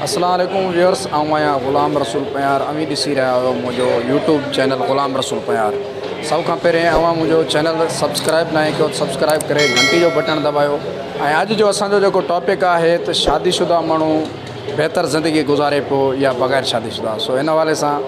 السلام عليڪم ويورس آئون آهيان غلام رسول پنهيار اوهين ڏسي رهيا آهيو منهنجو يوٽيوب چينل غلام رسول پنهيار سڀ کان پهرين اوهان منهنجو چينل سبسڪرائب ناهي ڪيو ته سبسڪرائب ڪري گهنٽي جو بٽڻ دٻايو ۽ اڄ جو اسان جو جيڪو ٽاپڪ آهي ته شادي شده ماڻهو بهتر زندگي گذاري پيو يا بغير شادي شده سو ان حوالي سان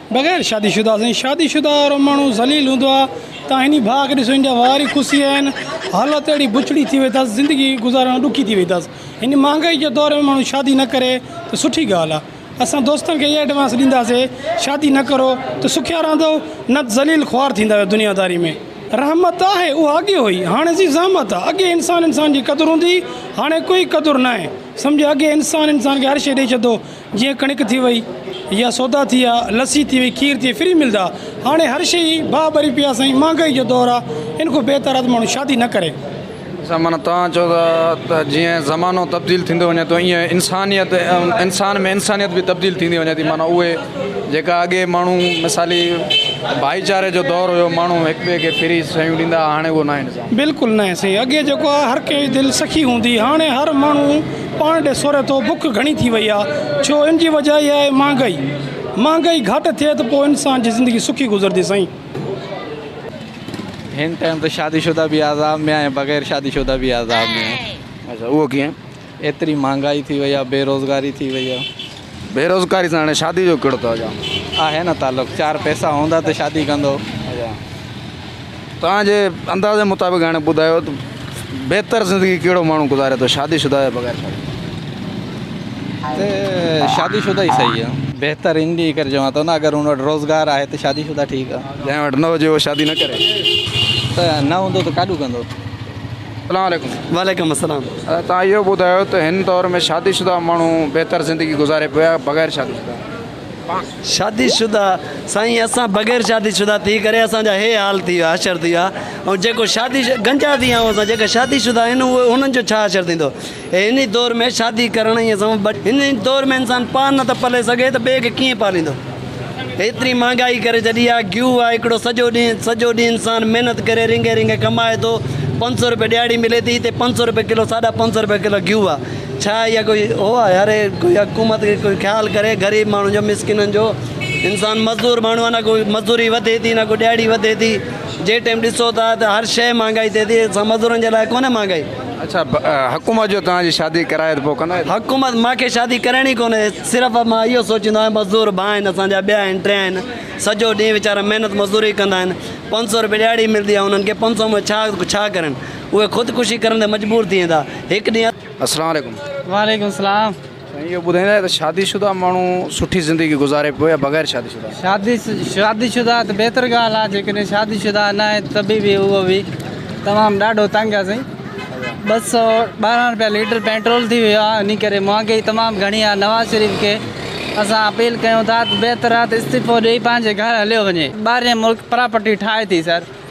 بغير شادي شده سائين شادي شده وارو ماڻهو ذليل هوندو آ تان هني ڀاء کي ڏسو هن جا وار ئي کسي ويا آهن حالت اهڙي بڇڙي ٿي وئي ٿس زندگي گذارڻ ڏکي ٿي وئي ٿس هن مهانگائي جي دور ۾ ماڻهو شادي نه ڪري ته سٺي ڳالهه آ اسان دوستن کي اها ايڊوانس ڏينداسي شادي نه ڪرو ته سکيا رهندؤ نه ته ذليل خوار ٿيندا ويو دنيا داري ۾ رحمت آهي اها اڳي هئي هاڻي سي زحمت آ اڳي انسان انسان جي قدر هوندي هاڻي ڪوئي قدر ناهي سمجهي اڳي انسان انسان کي هر شئي ڏئي ڇڏدو جيئن ڪڻڪ ٿي وئي يا سودا ٿي ويا، لسي ٿي وئي، کير ٿي وئي فري ملدا. هاڻي هر شيء ئي باهه ٻري پئي آهي سائين. مهانگائي جو دور آهي ان کان بهتر آهي ته ماڻهو شادي نه ڪري. اچا معنيٰ توهان چئو ٿا ته جيئن زمانو تبديل ٿيندو وڃي ٿو ايئن انسانيت انسان ۾ انسانيت به تبديل ٿيندي وڃي ٿي معنيٰ اهي جيڪا اڳي ماڻهو مثالي ڀائيچاري جو دور هيو ماڻهو هڪ ٻئي کي فري شيون ڏيندا هئا هاڻي اهو ناهي نظام. بلڪل ناهي سائين اڳي جيڪو آهي هر ڪنهن جي دل سکي هوندي هاڻي هر ماڻهو پاڻ ڏي سوري ٿو، بک گهڻي ٿي وئي آهي، ڇو ان جي وجهه اها آهي مهانگائي، مهانگائي گهٽ ٿئي ته پوء انسان جي زندگي سکي گذرندي سائين. هن ٽائيم ته شادي شده به عذاب ۾ آهن بغير شادي شده به عذاب ۾ آهن. اهو ڪيئن؟ ايتري مهانگائي ٿي وئي آهي، بيروزگاري ٿي وئي آهي. بي روزگاري سان هاڻي شادي جو ڪهڙو توجام. آهي نه تعلق چار پئسا هوندا ته شادي ڪندو. اچا توهان جي اندازي مطابق هاڻي ٻڌايو ته بهتر زندگي ڪهڙو ماڻهو گذاري ٿو شادي شده يا بغير شادي شده. ته شادي شده ئي صحيح آهي. بهتر ان جي ڪري چوان ٿو نه اگر ان وٽ روزگار آهي ته شادي شده ٺيڪ آهي. جنهن وٽ نه هجي اهو شادي نه ڪري. ته نه هوندو ته ڪاڏون ڪندو. اسلام عليڪم. وعليڪم السلام. توهان اهو ٻڌايو ته هن دور ۾ شادي شده ماڻهو بهتر زندگي گذاري پيو يا بغير شادي شده؟ شادي شده سائين اسان بغير شادي شده ٿي ڪري اسان جا هي حال ٿي ويا حشر ٿي ويا ۽ جيڪو شادي گنجا ٿي ويا آهيون اسان جيڪا شادي شده آهن انهن جو ڇا حشر ٿيندو. هن دور ۾ شادي ڪرڻ ۽ اسان ٻه هن دور ۾ انسان پاڻ نه ٿو پلي سگهي ته ٻئي کي ڪيئن پاليندو ايتري مهانگائي ڪري ڇڏي آهي گيو آهي هڪڙو سڄو ڏينهن سڄو ڏينهن انسان محنت ڪري رينگي رينگي ڪمائي ٿو پنج سو روپيه ڏهاڙي ملي ٿي هتي پنج سو روپيه ڪلو ساڍا پنج سو روپيه ڪلو گيو آهي ڇا اها ڪوئي هو آهي هر ڪوئي حڪومت کي ڪوئي خيال ڪري غريب ماڻهن جو مسڪينن جو انسان مزدور ماڻهو آهي نه ڪوئي مزدوري وڌي ٿي نه ڪوئي ڏهاڙي وڌي ٿي جي ٽيم ڏسو ٿا ته هر شيء مهانگائي ٿئي ٿي اسان مزدورن جي لاء ڪونهي مهانگائي اڇا حڪومت جو توهان جي شادي ڪرائي ته پوء ڪندا ڇا؟ حڪومت مان کي شادي ڪرڻي ڪونهي صرف مان اهو سوچيندو آهيان مزدور ڀا آهن اسان جا ٻيا آهن ٽي آهن سڄو ڏينهن ويچارا محنت مزدوري ڪندا آهن پنج سؤ روپيه ڏهاڙي ملندي آهي انهن کي پنج سؤ ۾ ڇا ڇا ڪرن اهي خودڪشي ڪرڻ تي مجبور ٿي ويندا هڪ ڏينهن اسلام عليڪم. وعليڪم السلام. سائين اهو ٻڌائيندا ته شادي شده ماڻهو سٺي زندگي گذاري پيو يا بغير شادي شده؟ شادي شادي شده آهي ته بهتر ڳالهه آهي جيڪڏهن شادي شده نه آهي ته به به اهو به تمام ڏاڍو تنگ آهي سائين ٻه سو ٻارهن روپيا ليٽر پيٽرول ٿي ويو آهي ان ڪري مهانگائي تمام گهڻي آهي نواز شريف کي اسان اپيل ڪيون ٿا ته بهتر آهي ته استعيفو ڏئي پنهنجي گهر هليو وڃي ٻاهرين ملڪ پراپرٽي ٺاهي ٿي سر